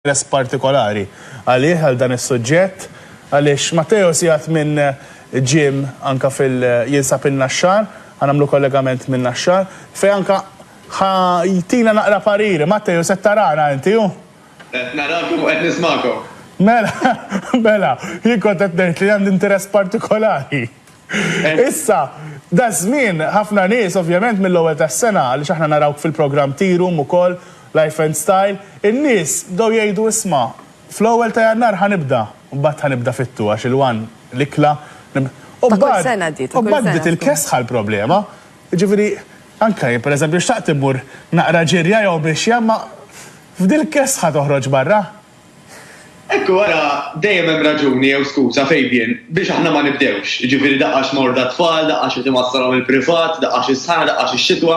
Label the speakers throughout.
Speaker 1: interess partikolari għalih, għal dan is-suġġett, għaliex Matteo sigħat minn gym anke fil jinsab in-Naxxar, ħa nagħmlu kollegament min-Naxxar, fejn anke ħa jtina naqra pariri. Matteo, se tarana inti, hu? Qed narakom u
Speaker 2: qed nismagħkom. Mela,
Speaker 1: mela, jien kont qed ngħid li għandi interess partikolari. Issa, daż-żmien, ħafna nies, ovvjament mill-ewwel tas-sena, għaliex aħna narawk fil-programm Tea Room ukoll, Life and Style, in-nies bdew jgħidu isma', fl-ewwel ta' Jannar ħa nibda, mbagħad ħa nibda fit-two għax il-one, l-ikla, nib. U mbagħad, u mbagħad bdiet il-kesħa l-problema. Jiġifieri, anke jien pereżempju xtaqt immur naqra ġirja jew mixja imma f'dil-kesħa toħroġ barra.
Speaker 2: Hekk u ara, dejjem hemm raġuni jew skuża, Fabian, biex aħna ma nibdewx. Jiġifieri daqqa xi morda t-tfal, daqqa xi timassalhom il-privat, daqqa xi sħana, daqqa xi xitwa.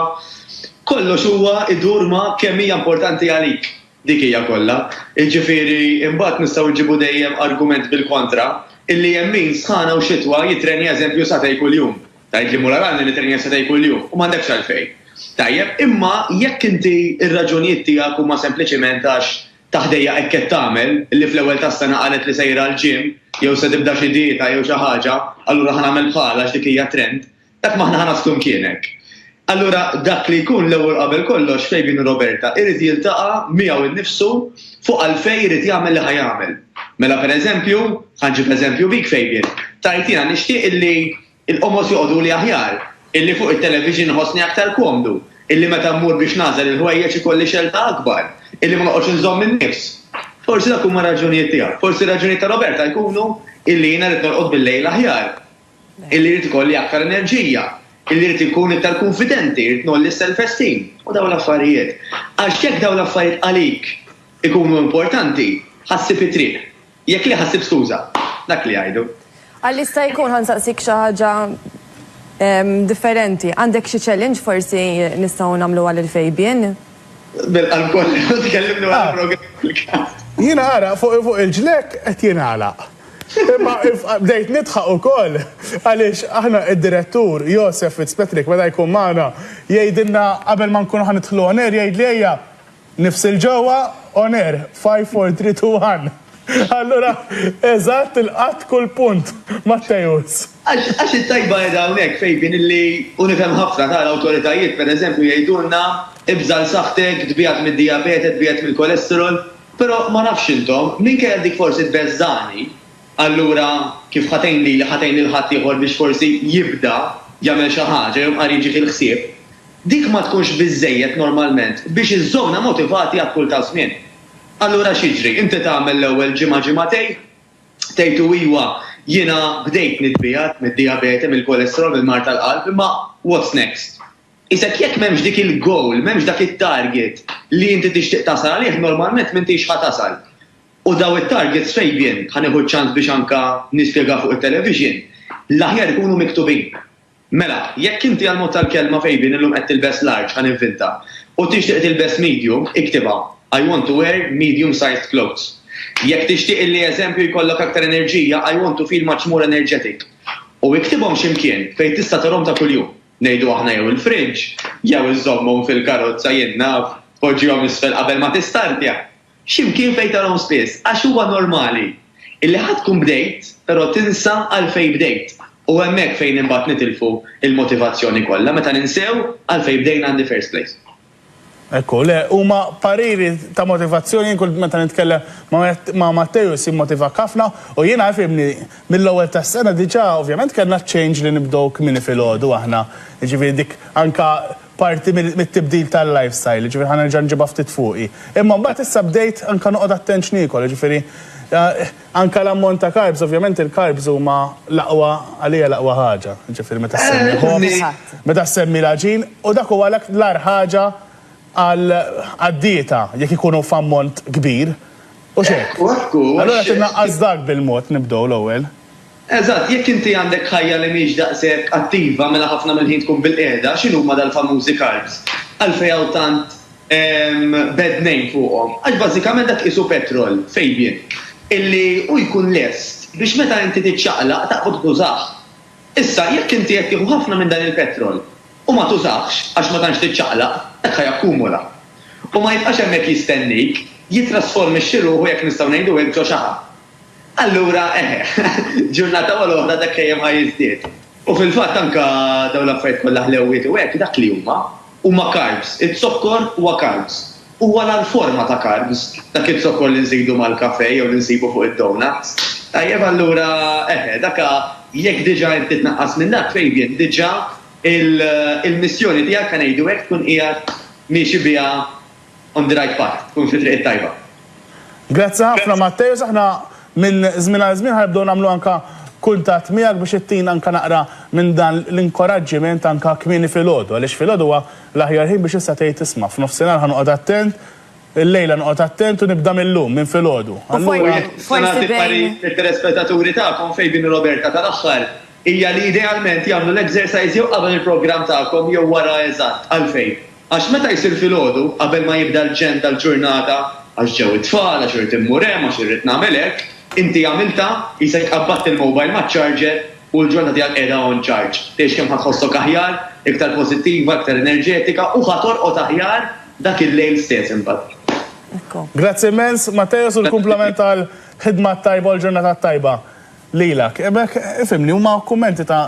Speaker 2: Kollox huwa idur ma' kemm hija importanti għalik. Dik hija kollha. Jiġifieri, imbagħad nistgħu nġibu dejjem argument bil-kontra, illi hemm min, sħana u xitwa, jittrenja eżempju satej kuljum. Tgħid li mura rani nittrenja satej kuljum u m'għandekx għalfejn. Tajjeb, imma jekk inti r-raġunijiet tiegħek huma sempliċiment għax Ta' ħdejja hekk qed tagħmel, illi fl-ewwel tas-sena qalet li sejra għall-gym, jew se tibda xi dieta jew xi ħaġa, allura ħa nagħmel bħalha għax dik hija trend. Dak m'aħna ħa naslu mkienek. Allura dak li jkun l-ewwel qabel kollox Fabian u Roberta irid jiltaqa' miegħu nnifsu fuq għalfejn irid jagħmel li ħa jagħmel. Mela pereżempju, ħa nġib eżempju bik Fabian, tgħid jiena nixtieq illi Il-qomos joqogħduli aħjar, illi fuq it-television inħossni aktar komdu, illi meta mmur biex nagħżel il-ħwejjeġ ikolli xelta akbar, illi ma noqgħodx inżomm in-nifs. Forsi dawk huma r-raġunijiet tiegħu. Forsi r-raġunijiet ta' Roberta jkunu illi jiena rrid norqod bil-lejl aħjar, illi rrid ikolli aktar enerġija, illi rrid inkun iktar kunfidenti, irrid ngħolli s-self-esteem, u dawn l-affarijiet. Għax jekk dawn l-affarijiet għalik ikunu importanti, ħa ssib it-triq. Jekk le ħassib skuża. Dak li jgħidu. Għal jista' jkun
Speaker 3: ħa nsaqsik xi ħaġa differenti. Għandek xi challenge forsi nistgħu nagħmluha lil Fabian? Bil-qalb
Speaker 2: kollu tkellimna wara l-programm fil-każ. Jien għaraq
Speaker 1: fuq il-ġlekk qed jingħalaq. Imma bdejt nidħaq ukoll għaliex aħna d-direttur Josef Fitzpatrick meta jkun magħna jgħidilna qabel ma nkunu ħa nidħlu on air jgħidli ejja Nifs il ġewwa on air, five four three two one. Allura eżatt ilqatt kull punt, Matteus. Għax it-tajba
Speaker 2: qiegħda hawnhekk, Fabian, illi, u nifhem ħafna, ta, l-awtoritajiet, pereżempju, jgħidulna, ibża' għal saħħtek, tbiegħed mid-dijabete, tbiegħed mill-kolesterol, però ma nafx intom, minkejja dik forsi tbeżżagħni, allura kif ħa tgħin lili, ħa tgħin lil ħaddieħor biex forsi jibda jagħmel xi ħaġa jew qari jiġih il-ħsieb, Dik ma tkunx biżżejjed normalment biex iżżommna motivati għat-tul taż-żmien. Allura x'jiġri? Inti tagħmel l-ewwel ġimgħa ġimgħatejn, tgħid u iwa, jiena bdejt nitbiegħed mid-dijabete, mill-kolesterol, mill-mard tal-qalb, imma what's next? Qisek jekk m'hemmx dik il-goal, m'hemmx dak it-target li inti tixtieq tasal għalih, normalment m'intix ħa tasal. U dawn it-targets fejn jien ħa nieħu ċ-ċans biex anke nispjega fuq it-television? L-aħjar ikunu miktubin. Mela, jekk inti għall-mod tal-kelma fejbin illum qed tilbes large, ħa ninvinta, u tixtieq tilbes medium, iktibha, I want to wear medium-sized clothes. Jekk tixtieq illi eżempju jkollok aktar enerġija, I want to feel much more energetic. U iktibhom xi mkien fejn tista' tarhom ta' kuljum. Ngħidu aħna jew il-fridge, jew iżżommhom fil-karozza jien naf, poġġihom isfel qabel ma tistartja. Xi mkien fejn tarahom spiss, għax huwa normali illi ħa tkun bdejt però tinsa għalfejn bdejt u hemmhekk fejn imbagħad nitilfu l-motivazzjoni kollha meta ninsew għalfejn bdejna in the first place. Ekku,
Speaker 1: le, huma pariri ta' motivazzjoni, jien kull meta nitkellem ma' Matteo jsir motivak ħafna u jiena ifhimni mill-ewwel tas-sena diġà ovvjament kellna ċ-change li nibdew kmieni filgħodu aħna, jiġifieri dik anke parti mit-tibdil tal-lifestyle, jiġifieri ħa nerġa' nġibha ftit fuqi. Imma mbagħad issa bdejt anke noqgħod attent x'niekol, jiġifieri anke l-ammont ta' carbs, ovvjament il-carbs huma l-aqwa, għalija l-aqwa ħaġa, jiġifieri meta ssemmi ħobż, meta ssemmi l-għaġin, u dak huwa l-agħar ħaġa għad-dieta jekk ikunu f'ammont kbir, hux hekk? Allura qed innaqqas dak bil-mod nibdew l-ewwel. Eżatt, jekk
Speaker 2: inti għandek ħajja li mhix daqshekk attiva mela ħafna mill-ħin tkun bilqiegħda, x'inhuma dal-famużi carbs? Għalfejn hawn tant bad name fuqhom? Għax bażikament dak qisu petrol, Fabian, illi hu jkun lest biex meta inti tiċċaqlaq taqbad tużah. Issa, jekk inti qed tieħu ħafna minn dan il-petrol u ma tużahx għax ma tantx tiċċaqlaq, dak ħa jakkumula. U ma jibqax hemmhekk jistennik, jitrasformixxi ruħu jekk nistgħu ngħidu hekk ġo xaħam. Allura, eħe, ġurnata wara l-oħra dak dejjem ħa jiżdied. U fil-fatt anke dawn l-affarijiet kollha ħlewwiet u hekk dak li huma, huma carbs. Iz-zokkor huwa carbs. Huwa l-agħar forma ta' carbs dak iz-zokkor li nżidu mal-kafè jew li nsibu fuq id-donuts. Tajjeb allura, eħe, dak jekk diġà inti tnaqqas minn dak, Fabian, diġà il-missjoni tiegħek, ħa ngħidu hekk, tkun qiegħed miexi biha. On the right path, tkun fit-triq it-tajba. Grazzi
Speaker 1: ħafna Matteus, aħna minn żmien għal żmien ħanibdew nagħmlu anke kuntatt miegħek biex ittina anke naqra minn dan l-inkoraġġiment anke kmieni filgħodu, għaliex filgħodu huwa l-aħjar ħin biex issa tgħid isma' f'nofsinhar ħa noqgħod attent, illejla noqgħod attent u nibda mil-lum, minn filgħodu. U jekk nista' nagħti
Speaker 3: parir lit-telespettaturi tagħkom
Speaker 2: fejn din Roberta tal-aħħar hija li idealment jagħmlu l-exercise jew qabel il-programm tagħkom jew wara eżatt, għalfejn? Għax meta jsir filgħodu, qabel ma jibda l-ġenn tal-ġurnata, għax ġew it-tfal, għax irrid immur hemm, għax irrid nagħmel hekk, inti għamiltha, qisek qabbadt il-mobile maċ-charger u l-ġurnata tiegħek qiegħda on charge. Tgħix kemm ħa tħossok aħjar, iktar pożittiva, iktar enerġetika u ħa torqod aħjar dak il-lejl stess imbagħad. Grazzi
Speaker 1: immens, Matteos, u l-kumplament għall-ħidma t-tajba u l-ġurnata t-tajba lilek. B'hekk, ifhimni, huma kummenti ta'